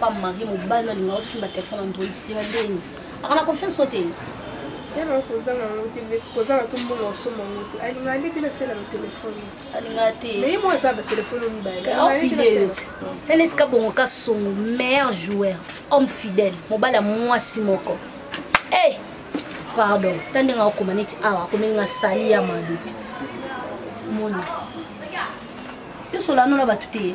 femme marie mobali alinga osimba telefone ya ndoi te na ndeni aka na confiance no te yaba kozanga yango te nde kozanga to mbongo osomba yango te alingaka nde te nasala na telefone alingaka te mais ye moko aza batelefone mibale tene tika bongo ka songo meilleur joueur homme fidèle mobali ya mwasi moko e pardon ta ndenge akokoma neti awa akomeli na sali ya mabe mona yo solanola bato te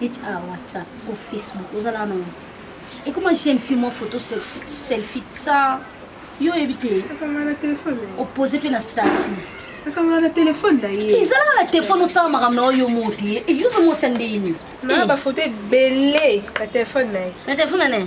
neti a whatsapp o facebook ozalaka nango ekoma jeune fille mwa photo selfie sa yo oyebi te opose mpe na stati akanga na telefone na ye ezalaka na telefone osala makambo na oyo mo te eyozo mosa ndeni na bafoto ebele na telefone na ye na telefone na ye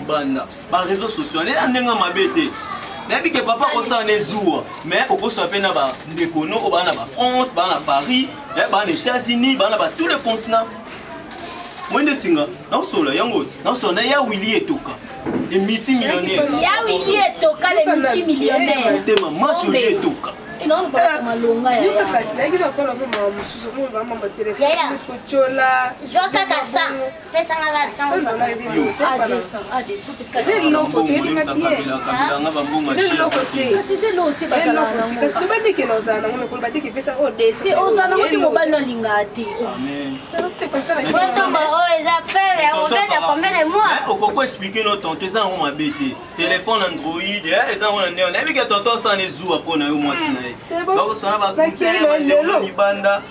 banda ba réseaux sociaux nde andenga mabe te nayebi ke papa akosala na ezuwa mais okosala mpe na bandeko no oyo baa na bafrance baa na paris eh, baa na états-unis baa na ba tous les continents moi nde tinga naosolola yango naosolola na ya wili etoka le multimillionnaire ya wili etoka le multimillionnaire motema mwasi wili etoka yaya zwa kaka sa pesanga ka sango te mobali no alingaka te kosomba oyo eza pere ya kobeta combien de mois okoko explike no tonto eza yango mabe te telefone android eza yango na neo nayebi ke tonto asana ezuwa mpo na yo mwasi na ye bakosana bakonse libanda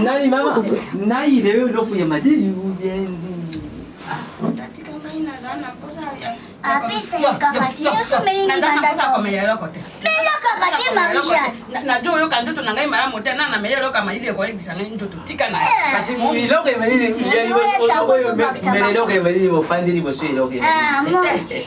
nani mama nai leyo eloko ya madili ubiendi najo oyoka nzoto na ngai malamu te na nameli eloko ya malili ekolekisa ngai nzoto tika na eh. kasi eloko ya malili eloko ya malili bofandi liboso eloko ya malili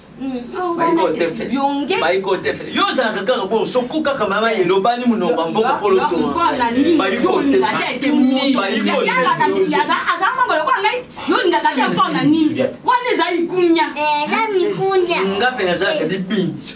yo ozalaka kaka bo soko kaka mama elobani monoko mboka polotoaza mpona nini wana ezali kunya nga mpe nazalaka libinzo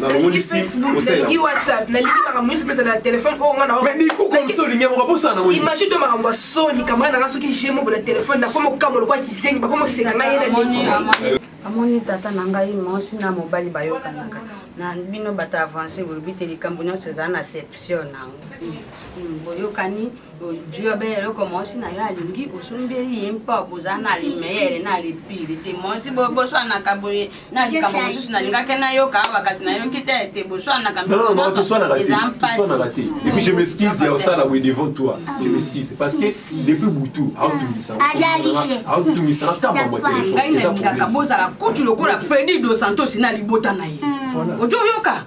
nalingi facebook nalingi whatsapp nalingi makambo nyonso tozala na telefone oyo nga naimagine to makambo ya soni kamara nanga soki jemo bona telefone nakoma okambo lokola kizengi bakoma oseka ngai ye na leki amoni tata na ngai mwasi na mobali bayokanaka na bino bato avance bolobi te likambo nyonso ezala na seption nango hmm, boyokani ojua be eloko mwasi na yo alingi osombeli ye mpo boza na limeyele na lipili te mwasi boswanaka boye na likambo mosusu nalingaki nayoka awa kasi nayoki te ete boswanaka eza mpasiepui je m'excuse ya osala boye devant toi ah. je m'excuse parce que depuis butu aotungisaaotungisaka ah. ntamba mwa telefone ngai nalingaka bozala kutu lokola fredi dos santos na libota na ye mm. ojo oyoka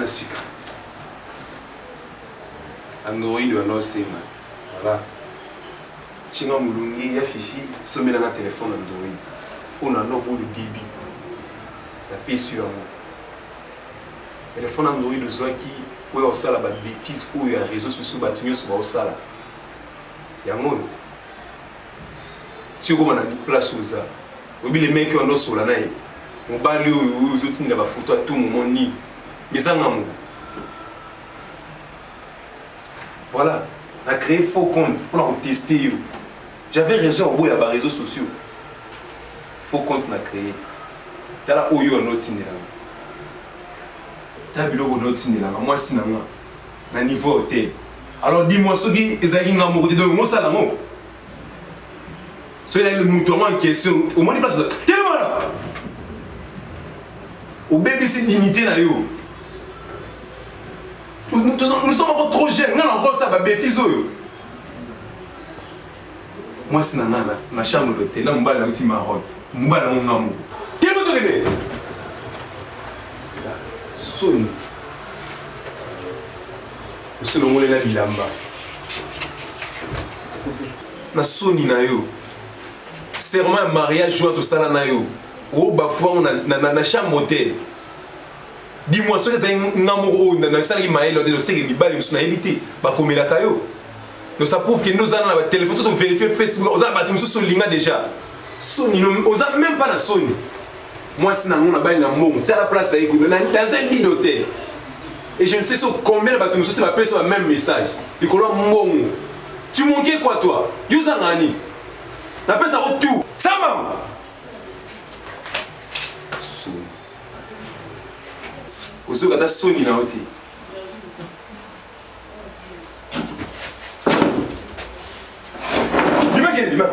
na sika android wana osenga voilà Chinga mulungi ya fifi somela nga telefone ya ndoi mpo na lobo oyo bibi napesi yo yango telefone ya ndoi dozwaki oyo osala babetise oyo ya réseau sociaux bato nyonso baosala yango oyo tikoma na place oza oyebi le meki wana osola na ye mobali oyo oyo ozotindela bafoto ya tout moment nini mezanga moko Voilà, na créé faux compte pour la tester yo. J'avais raison au bout ya ba réseaux sociaux. Faux compte na créé. Tala oyo no tinela. Ta biloko no tinela, moi si na moi. Na niveau hôtel. Alors dis-moi ce qui ezali nga moko te donc ngo sala ngo. So ezali moto yango en question, omoni place telema na. Obebisi dignité na yo. nous sommes encore trop jeune nga nakosa babétise oyo mwasi na nga na chambre d'hôtel na mobali na uti maroc mobali yango ngambo kino tokende soni osolongolela bilamba na soni na yo serment ya mariage oyo tosala na yo obafuango na chambre d'hôtel dis-moi soki ezali nga moko oyo nasalaki mayele ote oseke mibali mosusu nayebi te bakomelaka yo donc ça prouve kende oza na batelefone soki overifie facebook oza na bato mosusu olinga déjà soni oza même pas na soni mwasi na yango nabali na mbongo tala place ayeko dans un lit d'hôtel et je ne sais sur combien de bato mosusu bapesa ba même message likolo ya mbongo tu manquais quoi toi yo oza nani napesa ko tout sama ozoyoka ata soni na yo te bimakende bima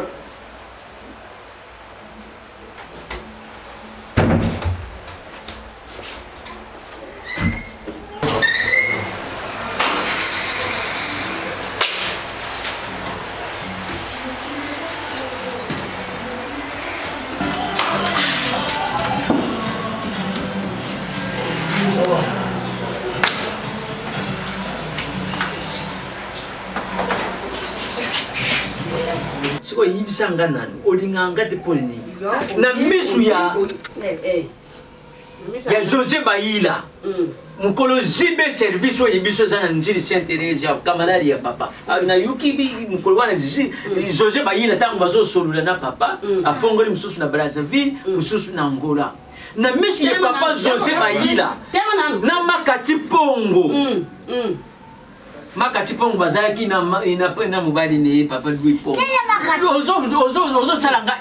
oyebisa nga nani olingaka nga te mpo nini na misu ya eh, eh. ya josé bayila mm. mokolo jb service oyo biso eza na njili saint therese ya kamalari ya papa ah, nayuki mokolo wana mm. josé bayila ntango bazosolola na papa mm. afongoli mosusu na brazzaville mosusu na angola na misu ya papa josé bayila na makati pongo makati mpongo bazalaki na na mobali na ye papa louis po ozosala nga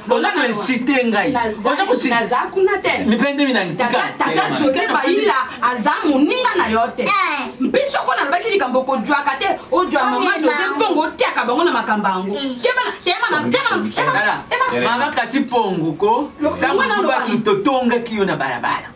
oza na insite ngai oza kuna te mipende minangitikaaila aza moninga na yo te eh. mpe soko nalobaki likambo okojwaka te ojwa mama jose mpongo otiaka bango na makambo yango eh. mama kati mpongo ko ntango olobaki totongaki yo na balabala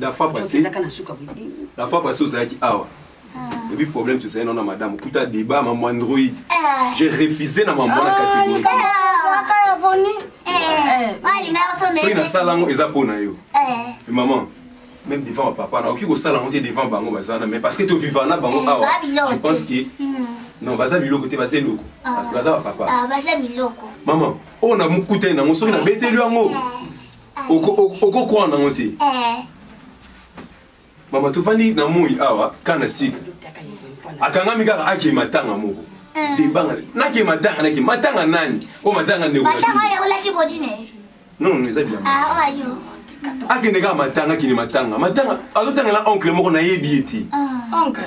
la fois passée la fois passée ozalaki awa ah. ebi problème tozali nao na madame okuta débat mamu android ah. j'ai refusé na mamu wana catégorie soki nasala yango eza mpo na yo eh. maman même devant papa na okoki kosala yango te devant bango baza na mais parce que toviva na bango awa ah, ah, je pense que hmm. non baza biloko te baza eloko ah. parce que baza bapapa maman oyo oh, na mokutani nango soki nabeteli yango okokwana nango te eh. mama tofandi na moi awa ka na sika akangami kaka ake matanga moko eh. debanga nake matanga nake matanga nani o matanga ndeko non eza bilamba ah, akende kaka matanga akende matanga matanga azotangela oncle moko nayebi ye te ah.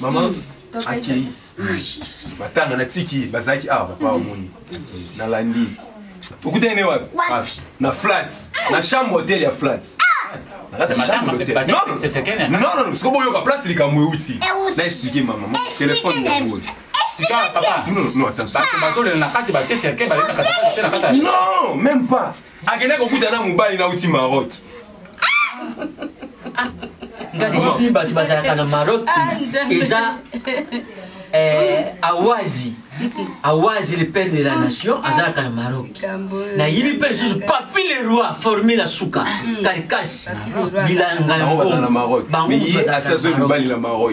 mama hmm, akei matanga natiki ye bazalaki awa papa omoni nalandi okutani ne wapi na flat na chambre hotel ya flat siko boyoka place likambo euti na explike mama telefone ya boye Non, même pas. akenda kokuta na mobali nauti maroc ngai bato bazalaka na maroc ah, eza eh, awazi awazi le père de la nation azalaka na maroc nayebi mpe lisusu papi le roi formi na suka karikasi bilanga na maroc bango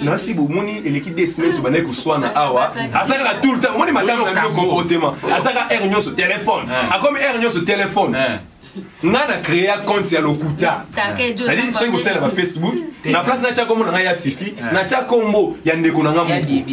nasi bomoni eleki de semaine tobandaki koswana awa aza kaka tout le temps omoni madame na bino comportement aza kaka heure nyonso telefone eh. akomi heure nyonso telefone eh. nga na créa compte ya lokuta nalii soki kosala na facebook na place natya kombo na ngai ya fifi natya kombo ya ndeko na ngai moko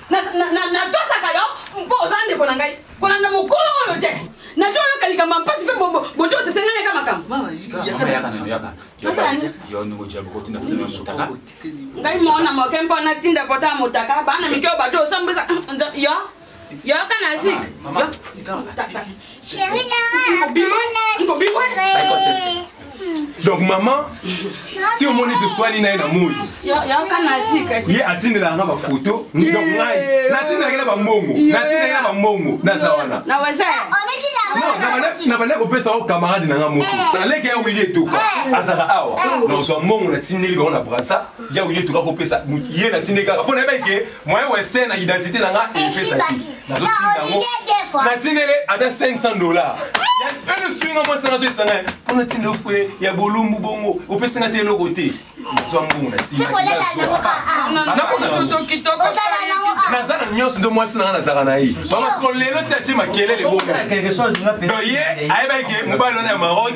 natosaka yo mpo oza ndeko na ngai kolanda mokolo oyo te nato oyoka likambo ya mpasi mpe botosi esenga yaka makambo-ngai mona moke mpo natinda pota ya motaka bana mike oyo bato osambwisa yo yoka na zik Chérie Lara, bana donc mama ti omoni toswani na ye na moi ye atindelaka nga bafoto donc ngai natindelaki na bambongo natindelaki na bambongo naza wana nabandaki kopesa o camarade na nga moko eh. naleki ya wili etoka eh. azalaka awa eh. nazwa mbongo natindeli bango na brasa ya wili etoka kopesa ye natindeli kaka mpo nayebaki ke moyen western na identité na nga epesaki natindele ata 500 dollar ene swinga mwasi na nazo esanga mpona tinda ofue ya bolumbu bongo opesi nga te eloko te nazwa mbongo natinanaza na nyonso nde mwasi nanga nazalaka na ye bamasiko lelo ti atie makelele bongo doye ayebaki mobali wana ya maroc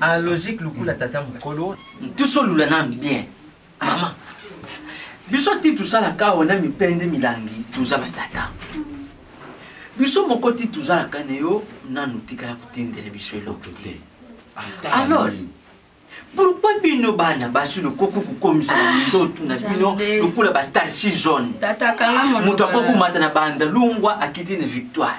a logique lukula tata mukolo tusolula nanu bien mama biso ti tosalaka wana mipende milangi toza batata biso moko ti tozalaka na yo nanu tikala kotindela biso eloko te alors pourkui bino bana basi lokoki kokomisa minzotu na bino lokola batarsi zone moto akokumata na bandalungwa akiti na victoire